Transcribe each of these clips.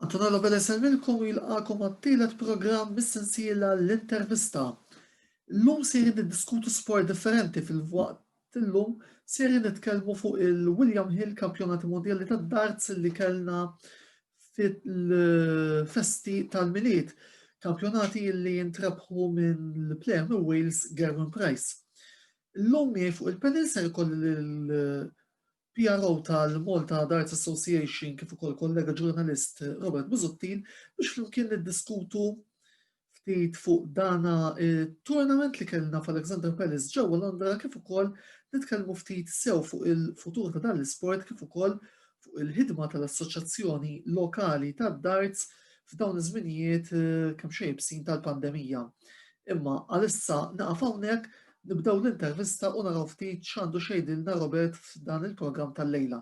Antonella Lobel isellmilkom u jilqakom għat-tielet programm mis-sensiela l-intervista. Illum sejrin niddiskutu sport differenti fil-waqt illum sejrin nitkellmu fuq il-William Hill Kampjonati Mondjali tad-Darts li kellna fil-festi tal-Milied, kampjonati li jintrebħu minn l-plejer minn Wales Gerwin Price. Illum miegħi fuq il-panel ser ikolli PRO tal-Malta Darts Association kif ukoll kollega ġurnalist Robert Busuttil biex flimkien niddiskutu ftit fuq dana tournament li kellna f'Alexander Palace ġewwa Londra kif ukoll nitkellmu ftit sew fuq il-futur ta' dan l-isport kif ukoll fuq il-ħidma tal-assoċjazzjoni lokali tad-darts f'dawn iż-żminijiet eh, kemm xejn tal-pandemija. Imma għalissa naqaf hawnhekk Nibdew l-intervista u naraw ftit x'għandu x'jgħidilna Robert f'dan il-programm tal-lejla.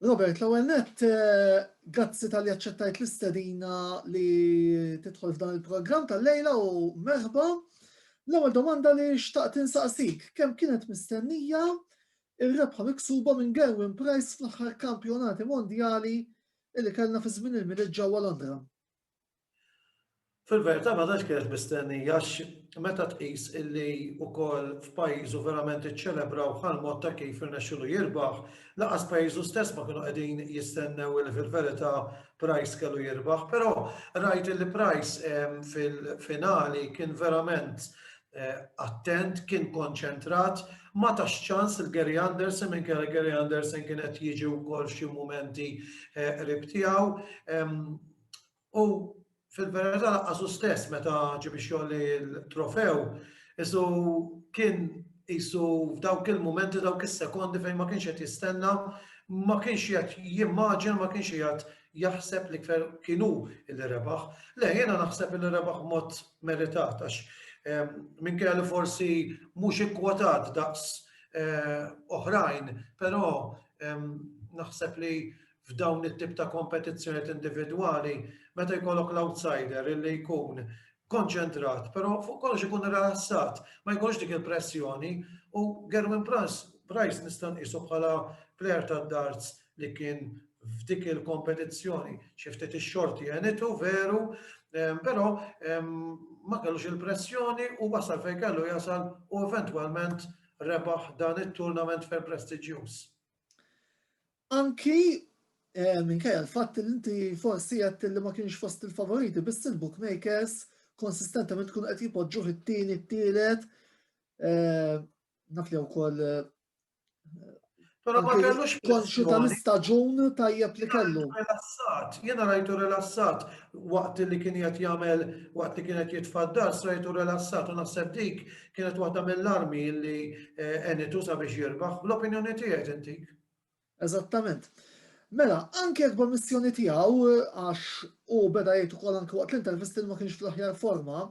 Robert, l-ewwel nett, eh, grazzi tal-li aċċettajt l-istedina li tidħol f'dan il-programm tal-lejla u merħba. L-ewwel domanda li xtaqt insaqsik, kemm kienet mistennija ir-rebħa miksuba minn Gerwin Price fl-aħħar kampjonati mondjali li kellna fi żmien il-miliet ġewwa Londra? Fil-verità ma tantx kienet mistennija għax meta tqis illi wkoll f'pajjiżu verament iċċelebraw bħall-mod ta' kif irnexxielu jirbaħ, lanqas pajjiżu stess ma kienu qegħdin jistennew illi fil-verità Price kellu jirbaħ. Però rajt illi Price fil-finali kien verament attent, kien konċentrat, ma tax ċans lil Gary Anderson minkejja li Gary Anderson kien qed jiġi wkoll f'xi mumenti qrib tiegħu. U fil-verità laqqas hu stess meta ġieb ix-xogħol il-trofew, isu kien isu f'dawk il-mumenti dawk is-sekondi fejn ma kienx qed jistenna, ma kienx qed jimmaġina, ma kienx qed jaħseb li kienu li rebaħ. Le jiena naħseb li rebaħ mod meritat għax ehm, minn kelli forsi mhux ikkwotat daqs eh, oħrajn, però ehm, naħseb li f'dawn it-tip ta' kompetizzjonijiet individwali meta jkollok l-outsider illi jkun konċentrat, però fuq kollox ikun rilassat, ma jkollux dik il-pressjoni u Gerwyn Price nista' nqisu bħala plejer tad-darts li kien f'dik il-kompetizzjoni xi ftit ix-xorti għenitu veru, però ma kellux il-pressjoni u wasal fejn kellu jasal u eventwalment rebaħ dan it-tournament ferm prestiġjuż. Anki eh, minkejja l-fatt li inti forsi qed li ma kienx fost il-favoriti, biss il-bookmakers konsistentement tkun qed jipoġġuh it-tieni, t-tielet. Eh, naf li wkoll eh, konxu tal-istaġun tajjeb li kellu. Relassat, jena rajtu relassat waqt li kien jgħat jagħmel waqt li kienet jitfaddar, rajtu relassat u naħseb dik kienet waħda mill-armi li għenitu sabiex jirbaħ. L-opinjoni tiegħek intik? Eżattament. Mela, anke jekk b'ommissjoni tiegħu, għax hu beda jgħid ukoll anke waqt l-intervisti li ma kienx fl-aħjar forma,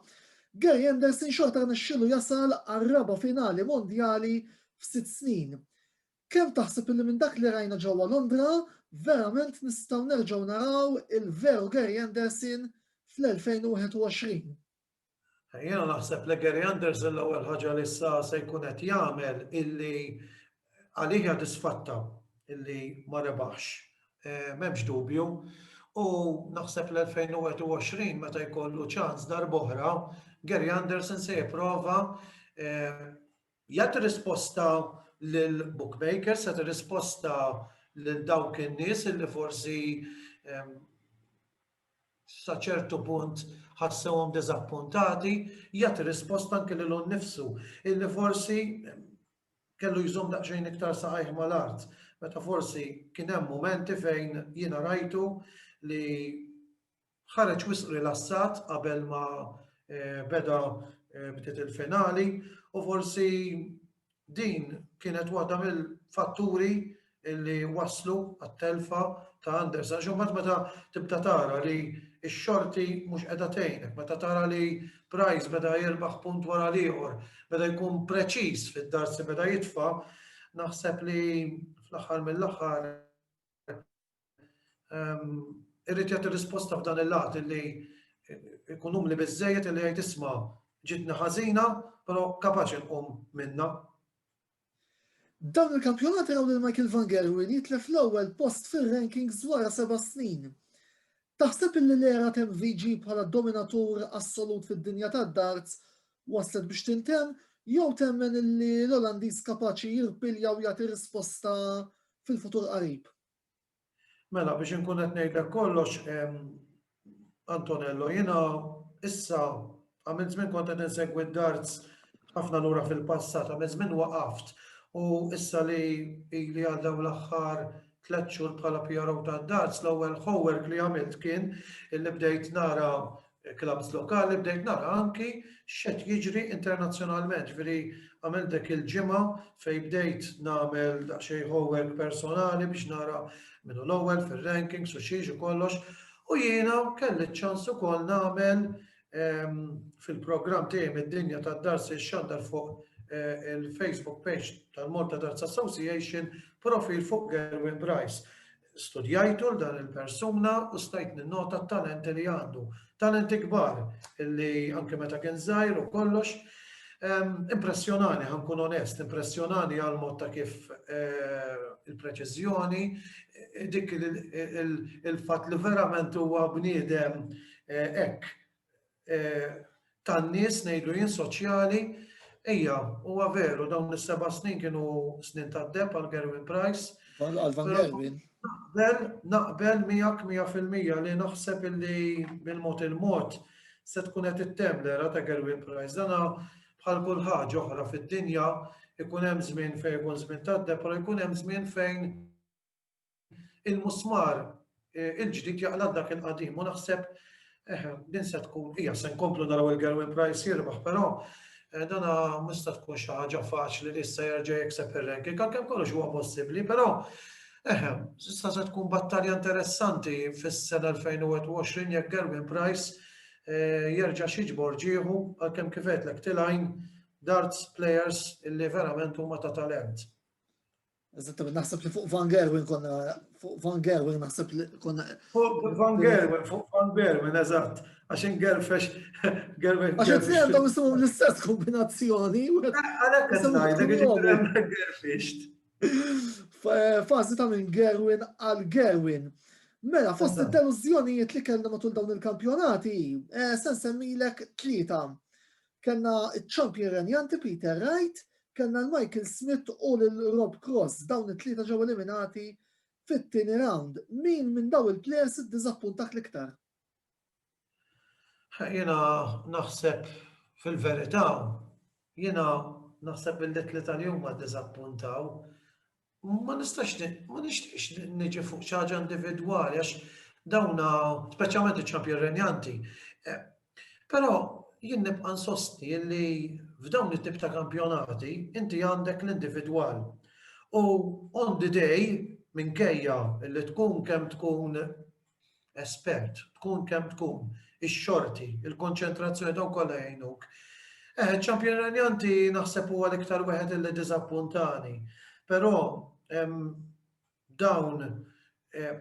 Gary Anderson xorta rnexxielu jasal għar-raba' finali mondjali f'sitt snin. Kemm taħseb illi minn dak li rajna ġewwa Londra verament nistgħu nerġgħu naraw il-veru Gary Anderson fl-2021? Jiena naħseb li Gary Anderson l-ewwel ħaġa li issa se jkun qed jagħmel illi għalih hija disfatta illi ma rebaħx. Eh, m'hemmx dubju. U naħseb l-2021 meta jkollu ċans darb'oħra, Gary Anderson se jipprova eh, jagħti risposta lil bookmakers, se risposta lil dawk in-nies illi forsi eh, sa ċertu punt ħassewhom diżappuntati, jagħti risposta anke lilu nnifsu, illi forsi kellu jżomm daqsxejn iktar saqajh mal-art, meta forsi kien hemm mumenti fejn jiena rajtu li ħareġ wisq rilassat qabel ma eh, beda eh, bdiet il-finali u forsi Din kienet waħda mill-fatturi li wasslu għat-telfa ta' Anders għax imbagħad meta tibda tara li x-xorti mhux qiegħda tgħinek, meta tara li Price beda jirbaħ punt wara l-ieħor, beda jkun preċiż fid-dards li beda jitfa', naħseb li fl-aħħar mill-aħħar irrid jagħti risposta f'dan il-lat li jkun umli biżejjed li jgħid isma' ġitni ħażina, però kapaċi nqum minna. Dawn il-kampjonati raw lil Michael Van Gerwen jitlef l-ewwel post fir-rankings wara seba' snin. Taħseb illi l-era tem VG bħala dominatur assolut fid-dinja tad-darts waslet biex tintemm jew temmen illi l-Olandiż kapaċi jirpilja u jagħti risposta fil-futur qarib? Mela, biex inkun qed ngħidlek kollox, Antonello, jiena issa għamil żmien kont qed insegwi d-darts ħafna lura fil-passat, għamil żmien waqaft u issa li li għaddew l-aħħar tliet xhur bħala PRO tad-darts, l-ewwel homework li għamilt kien illi bdejt nara clubs lokali bdejt nara anki x'qed jiġri internazzjonalment. Ġifieri għamilt dik il-ġimgħa fejn bdejt nagħmel daqsxejn homework personali biex nara min hu l-ewwel fir-rankings u xiex u kollox. U jiena kelli ċ-ċans ukoll nagħmel ehm, fil-programm tiegħi mid-dinja tad-darsi xandar fuq eh, il-Facebook page tal-Malta Darts Association profil fuq Gerwin Bryce. Studjajtu 'l dan il-persuna u stajt ninnota t-talenti li għandu. Talenti kbar li anke meta kien żgħir u kollox. Impressjonani, ħa nkun onest, impressjonani għal mod ta' kif il-preċiżjoni, dik il-fatt li verament huwa bniedem hekk tan-nies ngħidlu jien soċjali. Ejja, huwa veru dawn is-seba' snin kienu snin tad-deheb għal Gerwin Price. Għal Van Gerwin. Naqbel, naqbel miegħek mija fil-mija li naħseb illi bil-mod il-mod se tkun qed ittemm l-era ta' Gerwin Price. Dana bħal kull ħaġa oħra fid-dinja ikun hemm żmien fejn ikun żmien tad-deheb, però jkun hemm żmien fejn il-musmar il-ġdid jaqla' dak il-qadim u naħseb din se tkun hija se nkomplu naraw il-Gerwin Price jirbaħ, però dana mista tkun xi ħaġa faċli li issa jerġa' jikseb ir-ranking, għalkemm kollox huwa possibbli, però eħe, issa se tkun battalja interessanti fis-sena 2021 jekk Gerwin Price jerġa' xiġbor ġieħu għalkemm kif għedlek tilgħin darts players illi verament huma ta' talent. Eżattament, naħseb li fuq Van Gerwen konna, fuq Van Gerwen naħseb li konna. Fuq Van Gerwen, fuq Van Gerwen, eżatt, għaxin Gerfex, Gerwen. Għaxin t għandhom jisimu l-istess kombinazzjoni. Għalek għazzajda, Gerfex. Fazi ta' minn Gerwen għal Gerwen. Mela, fost il-deluzjonijiet li kellna matul dawn il-kampjonati, eh, sen semmilek tlieta. Kellna ċ-champion renjanti Peter Wright, kellna l-Michael Smith u lil Rob Cross, dawn it-tlieta ġew eliminati fit-tieni round. Min minn dawn il-players iddiżappuntak l-iktar? Jiena naħseb fil-verità, jiena naħseb li t-tlieta li huma ddiżappuntaw Ma nistax ma nixtieqx niġi fuq xi ħaġa individwali għax dawn speċjalment iċ-ċampjon renjanti. Eh, però jien nibqa' nsosti li f'dawn it-tip ta' kampjonati inti għandek l-individwal. U on the day minkejja li tkun kemm tkun espert, tkun kemm tkun, ix-xorti, il-konċentrazzjoni dawn kollha jgħinuk. Eh, ċampjon Ranjanti naħseb huwa l-iktar wieħed li diżappuntani, però dawn eh,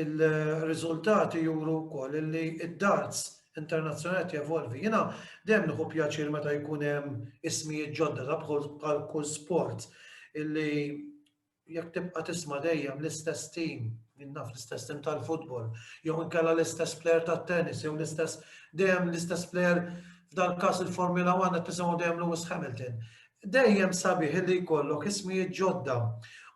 il-riżultati juru wkoll li id-darts internazzjonali jevolvi. Jiena dejjem nieħu pjaċir meta jkun hemm ismijiet ġodda ta' bħal kull sport illi jekk tibqa' tisma' dejjem l-istess tim, jien naf l-istess tim tal-futbol, jew inkella l-istess plejer tat-tennis, jew l-istess dejjem l-istess plejer f'dan każ il-Formula 1 qed tisimgħu dejjem Lewis Hamilton. Dejjem sabiħ li jkollok ismijiet ġodda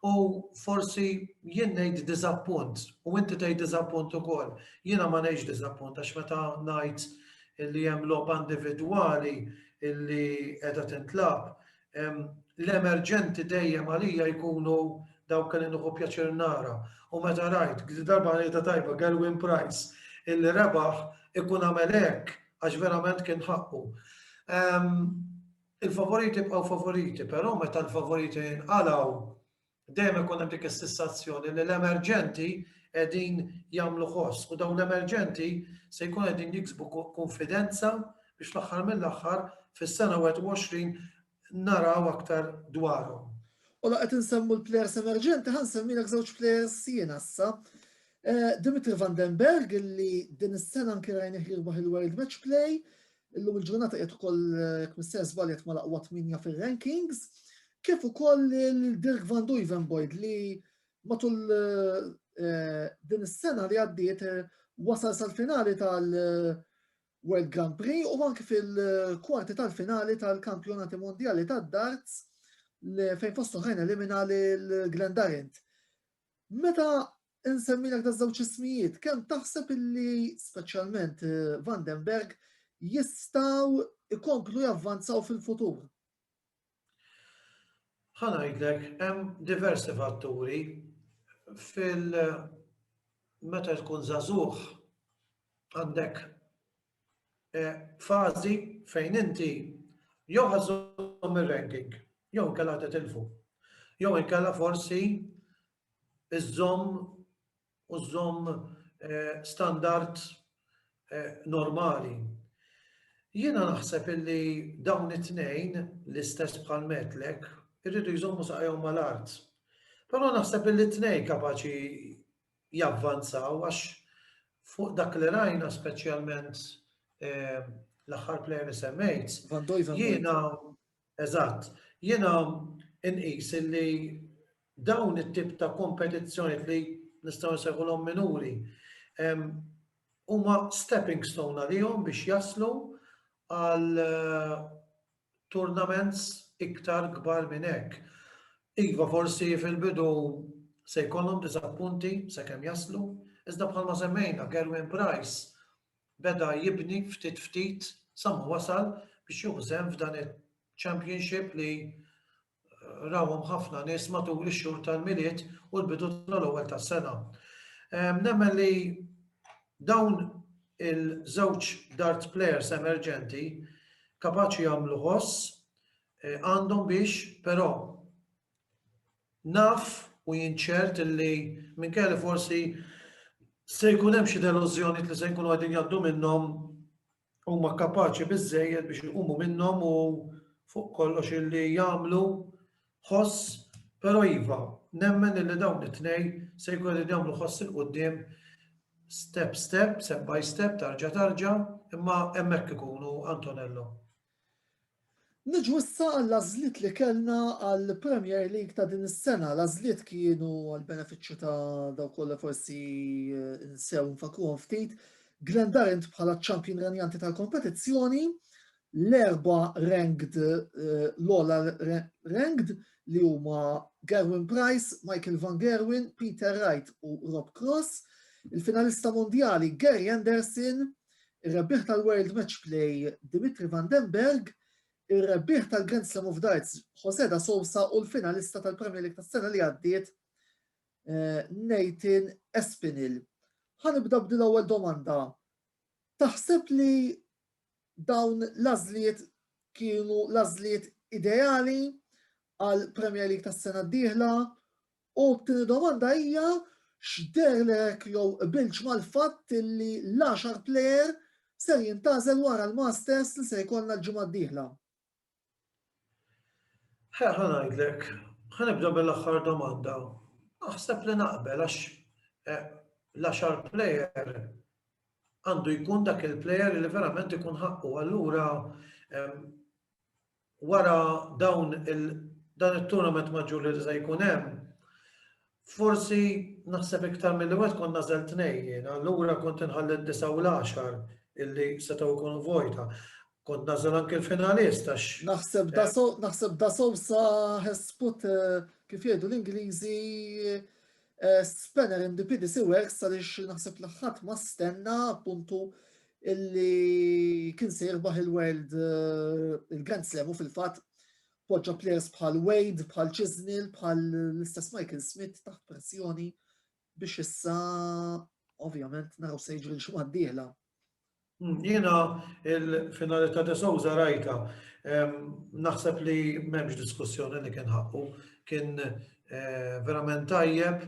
u forsi jien ngħid diżappunt u inti tgħid diżappunt ukoll. Jiena ma ngħidx diżappunt għax meta ngħid li hemm logħba individwali illi qiegħda tintlab L-emerġenti dejjem għalija jkunu dawk li nuħu pjaċir nara. U meta rajt, għdi darba għalija ta' tajba, Gerwin Price, illi rebaħ ikun għamel hekk għax verament kien ħaqqu. Il-favoriti bqgħu favoriti, però meta l-favoriti jinqalaw dejjem ikun hemm dik is-sissazzjoni li l-emerġenti qegħdin jagħmlu ħoss u dawn l-emerġenti se jkun qegħdin jiksbu konfidenza biex fl-aħħar mill-aħħar fis-sena 21 naraw aktar dwarhom. U laqgħet insemmu l-plejers emerġenti ħan semmilek żewġ plejers sien issa. Eh, Dimitri Vandenberg li din is-sena anke rajnih jirbaħ il-World Match Play, Illum il-ġurnata qiegħed ukoll jekk mister żbaljat ma laqwa tminja fir-rankings, kif ukoll il-Dirk Van Duivenboyd li matul eh, din is-sena li għaddiet eh, wasal sal-finali tal-World Grand Prix u anke fil-kwarti tal-finali tal-kampjonati mondjali tad-darts fejn fostu ħajn elimina l-Glenn Darent. Meta Insemmilek daż-żewġ ismijiet, kemm taħseb illi, speċjalment Van den Berg, jistgħu jkomplu javvanzaw fil-futur? Ħa ngħidlek, hemm diversi fatturi fil meta tkun żagħżugħ għandek e, fażi fejn inti jew ħażhom ir-ranking, jew inkella titilfu, jew inkella forsi iżżomm u żżomm standard normali. Jiena naħseb illi dawn it-tnejn, l-istess bħal Metlek, irridu jżommu saqajhom mal-art. Però naħseb illi t-tnejn kapaċi javvanzaw għax fuq dak li rajna speċjalment l-aħħar plejer li semmejt. Jiena, eżatt, jiena inqis illi Dawn it-tip ta' kompetizzjonijiet li nistgħu nsejħulhom minuri huma stepping stone għalihom biex jaslu għal tournaments iktar kbar minn hekk. Iva forsi fil-bidu se jkollhom diżappunti sakemm jaslu, iżda bħalma semmejna Gerwyn Price beda jibni ftit ftit sa ma wasal biex jieħu sehem f'dan il-Championship li rawhom ħafna nies matul ix-xhur tal-Milied u l-bidu tal-ewwel tas-sena. Nemmen li dawn il-żewġ dart players emerġenti kapaċi jagħmlu ħoss eh, għandhom biex però naf u jinċert li minn kelli forsi se jkun hemm xi delużjoni li se jkunu qegħdin jgħaddu minnhom huma kapaċi biżżejjed biex iqumu minnhom u fuq kollox illi jagħmlu ħoss, però iva, nemmen illi dawn it-tnejn se jkun qegħdin jagħmlu ħoss il quddiem step step, step by step, tarġa tarġa, imma hemmhekk ikunu Antonello. Niġu issa għall-għażliet li kellna għall-Premier League ta' din is-sena. L-għażliet kienu għall-benefiċċju ta' dawk kollha forsi nsew nfakruhom ftit. Glendarant bħala ċ-ċampjun renjanti tal-kompetizzjoni, l-erba ranked eh, l-ola ranked li huma Gerwin Price, Michael Van Gerwin, Peter Wright u Rob Cross, il-finalista mondjali Gary Anderson, ir-rebbieħ tal-World Match Play Dimitri Van den Bergh, ir-rebbieħ tal-Grand Slam of Darts Jose da Sousa u l-finalista tal-Premier League tas-sena li għaddiet eh, Nathan Espinil. Ħanibda b'dil ewwel domanda. Taħseb li dawn l-azliet kienu l-azliet ideali għal Premier League tas-sena d-dieħla U t-tieni domanda hija x'dehrlek jew qbiltx mal-fatt li l-għaxar plejer ser jintgħażel wara l-Masters li se jkollna l-ġimgħa d-dieħla? Ħa ngħidlek, ħa nibda mill-aħħar domanda. Naħseb li naqbel għax eh, l-għaxar plejer għandu jkun dak il-plejer li verament ikun ħaqqu. Allura wara dawn il dan it-tournament maġġur li se jkun hemm, forsi naħseb iktar milli wieħed kont nażel tnejn jien, allura kont inħalli d-disa' u l-għaxar illi setgħu jkunu vojta. Kont nażel anke l-finalist għax. Naħseb da so, naħseb da Sousa has put kif jgħidu l-Ingliżi spanner in the PDC works għaliex naħseb li ħadd ma stenna appuntu illi kien se jirbaħ il-World eh, il-Grand Slam u fil-fatt poġġa players bħal Wade, bħal Chisnell, bħal l-istess Michael Smith taħt pressjoni biex issa ovvjament naraw se jiġri l-xumad diela. Hmm, jiena il-finali ta' De Souza rajta, naħseb li memx diskussjoni li kien ħakku, kien verament tajjeb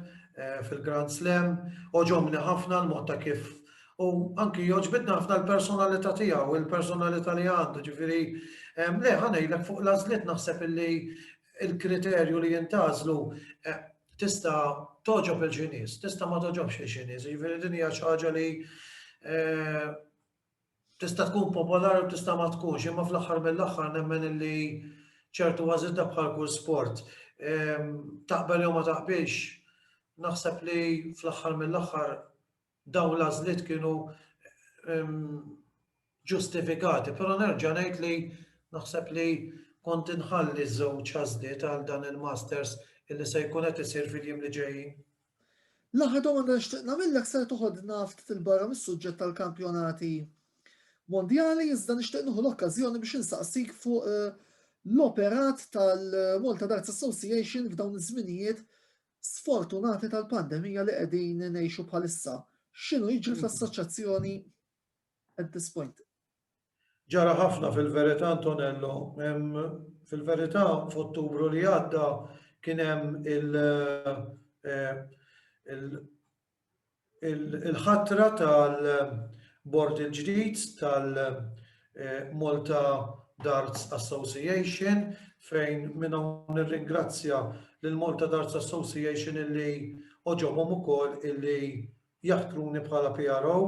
fil-Grand Slam, oġobni ħafna l-mod ta' kif u anki joġbitna ħafna l-personalità tiegħu, il-personalità li għandu, ġifieri le ħanejlek fuq l-għażliet naħseb illi il-kriterju li jintażlu tista' toġob il-ġinies, tista' ma toġobx il-ġinies, ġifieri din hija xi ħaġa li Tista' tkun popolari u tista' ma tkunx, imma fl-aħħar mill-aħħar nemmen illi ċertu għażiżla bħal kull sport. Ehm, taqbel jew ma taqbilx, naħseb li fl-aħħar mill-aħħar dawn l-għażliet kienu ehm, ġustifikati, però nerġa' ngħid li naħseb li kont inħalli żewġ għażliet għal dan il-Masters illi se jkun qed isir fil-jiem li ġejjin. L-aħħar domanda nixtieq nagħmillek ser toħodna ftit 'il barra mis-suġġett tal-kampjonati mondjali iżda nixtieq nieħu l-okkażjoni biex insaqsik fuq eh, l-operat tal-Malta Darts Association f'dawn iż-żminijiet sfortunati tal-pandemija li qegħdin ngħixu bħalissa. X'inhu jiġri fl-assoċjazzjoni at this point? Ġara ħafna fil-verità Antonello, hemm fil-verità f'Ottubru li għadda kien hemm il- il-ħatra tal-bord il-ġdid tal-Malta Darts Association fejn minn hawn nirringrazzja lill-Malta Darts Association illi għoġobhom ukoll illi jaħtruni bħala PRO.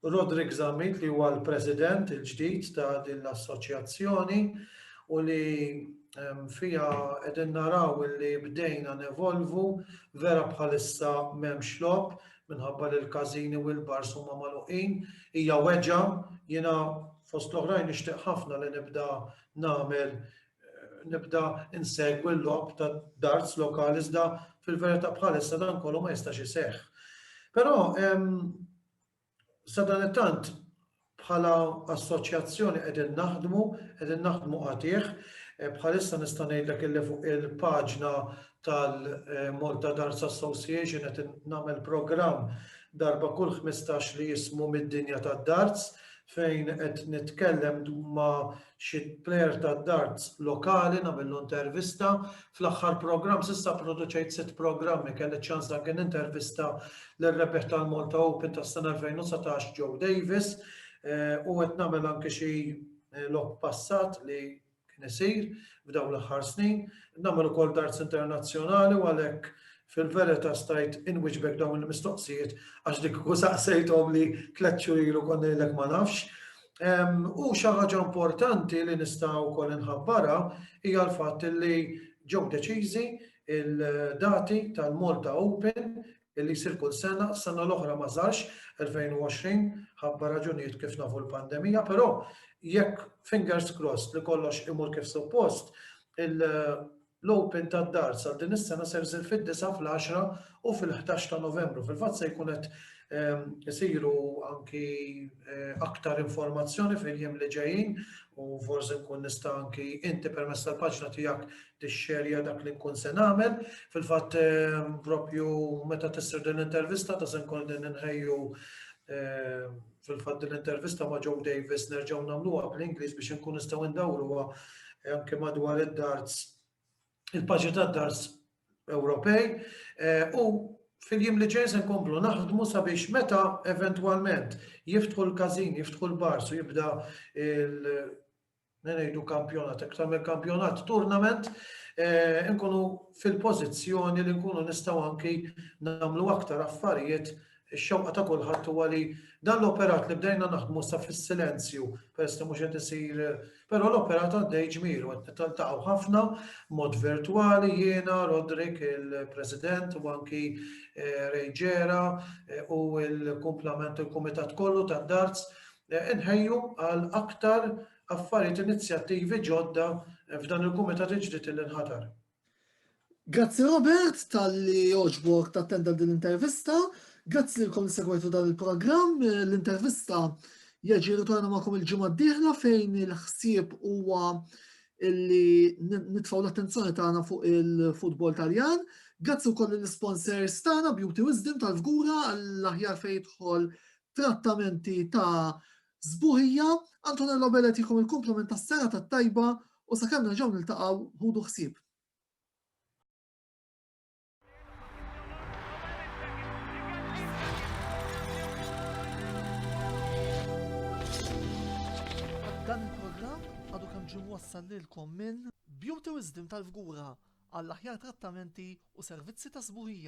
Roderick Zammit li huwa l-President il-ġdid ta' din l-Assoċjazzjoni u li fiha qegħdin naraw li bdejna nevolvu vera bħalissa m'hemmx logħob minħabba li l-każini u l-bars huma magħluqin. Hija weġgħa, jiena fost l-oħrajn nixtieq ħafna li nibda nagħmel nibda insegwi l-logħob ta' darts lokali iżda fil-verità bħalissa dan kollu ma jistax iseħħ. Però sadanittant bħala assoċjazzjoni qegħdin naħdmu, qegħdin naħdmu għatih, e, bħalissa nista' ngħidlek illi fuq il-paġna tal-Malta Dance Association qed nagħmel programm darba kull 15 li jismu mid-dinja tad-darts fejn qed nitkellem ma' xi plejer tad-darts lokali nagħmillu intervista. Fl-aħħar programm s'issa pproduċejt sitt programmi kelli ċ-ċans anke nintervista lir-rebbieħ tal-Malta Open tas-sena 2019 Joe Davis u qed nagħmel anke xi logħob passat li kien isir f'dawn l-aħħar snin. Nagħmel ukoll darts internazzjonali u għalhekk Fil-verita' stajt inwiġbek dawn il-mistoqsijiet għax dik kieku saqsejthomli tliet xhur ilu kont ngħidlek ma nafx. U xi ħaġa importanti li nista' wkoll inħabbarha hija l-fatt li ġew deċiżi il-dati tal-Malta Open illi jsir kull sena, s-sena l-oħra ma sarx, 2020, ħabba raġunijiet kif nafu l-pandemija, però jekk fingers crossed li kollox imur kif suppost, L-Open tad-Darts għal din is-sena ser isir fid-disgħa, fl-għaxra u fil-ħdax ta' Novembru. Fil-fatt se jkun qed isiru anki aktar informazzjoni fil-jiem li ġejjin u forsi nkun nista' anki inti permezz tal-paġna tiegħek tixxerja dak li nkun se nagħmel. Fil-fatt propju meta tissir din l-intervista ta' se nkun qegħdin inħejju Fil-fatt din l-intervista ma' Joe Davis nerġgħu nagħmluha bl-Ingliż biex inkun nistgħu ndawruha eh, anke madwar id-darts il-paġi tad-darts Ewropej eh, u fil-jiem li ġej se nkomplu naħdmu sabiex meta eventwalment jiftħu l-każin, jiftħu l-bars u jibda ngħidu kampjonat, iktar mill kampjonat, tournament, nkunu fil-pożizzjoni li nkunu nistgħu anki nagħmlu aktar affarijiet ix-xewqa ta' kulħadd huwa li dan l-operat li bdejna naħdmu sa fis-silenzju, peress li mhux qed isir, però l-operat għaddej ġmielu qed nitaltaqgħu ħafna mod virtwali jiena, Rodrik, il-President u anki eh, Rejġera eh, u l-kumplament il-Kumitat kollu tad-Darts Inħejju għal aktar affarijiet inizjattivi ġodda f'dan il-Kumitat il-ġdid li nħatar. Grazzi Robert talli għoġbok tattenda din l-intervista. Grazzi lilkom li segwejtu dan il-programm. L-intervista jaġi ritorna magħkom il-ġimgħa d-dieħla fejn il-ħsieb huwa illi nitfaw l-attenzjoni tagħna fuq il-futbol Taljan. Grazzi wkoll l-sponsors tagħna Beauty Wisdom tal-Fgura għall-aħjar fejn jidħol trattamenti ta' sbuħija, Antonello Bellet jikom il-komplement ta' sena ta' tajba u sa' kemm nerġaw niltaqaw ħudu ħsib. Dan il-programm għadu kemm ġim wassal lilkom minn Beauty Wisdom tal-Fgura għall-aħjar trattamenti u servizzi ta' sbuħija.